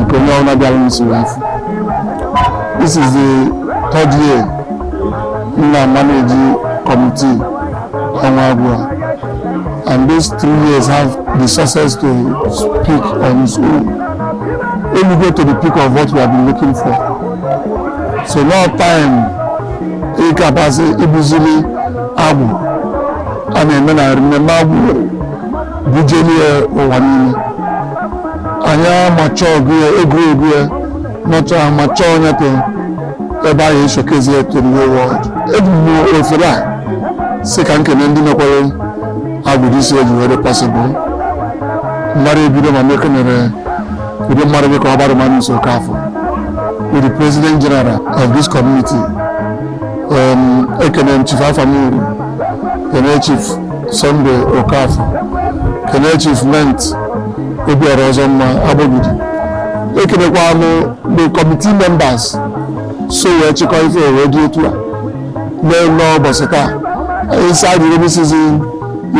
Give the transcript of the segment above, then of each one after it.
nke onye ọbụla bịara n'usoro afọ this is the third year m na-amanage committee ọnwa abụọ and those three years have the success to speak on its own elugo to the peak of what we have been looking for so no time ịkapasị ibuzili abụ a na-eme na mmemme abụ bujeni ya ụwa niile anyị amacha ọgụ ya egwuregwu ya nọcha amacha onye ka ebe anyị e-showcase ya to the whole world eji m ofere a sị ka m kene ndị mekwara agwụrụ isi eji were possible mmadụ ebido ma mekenere ụdị mmadụ dịka ọbara mma Nonso Okafor with the president general of this community um, ekene m chief afamuru kene chief Sunday Okafor kene Chief Clement Obiora Ọzọmma Agbogidi ekelekwa m the committee members so wee chịkọ ife wee dị etu a nenee ụbọsị taa inside the rainy season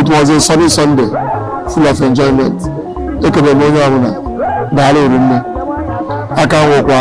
it was a sunny Sunday full of enjoyment ekene m onye ọbụla daalụ rinne aka nwekwa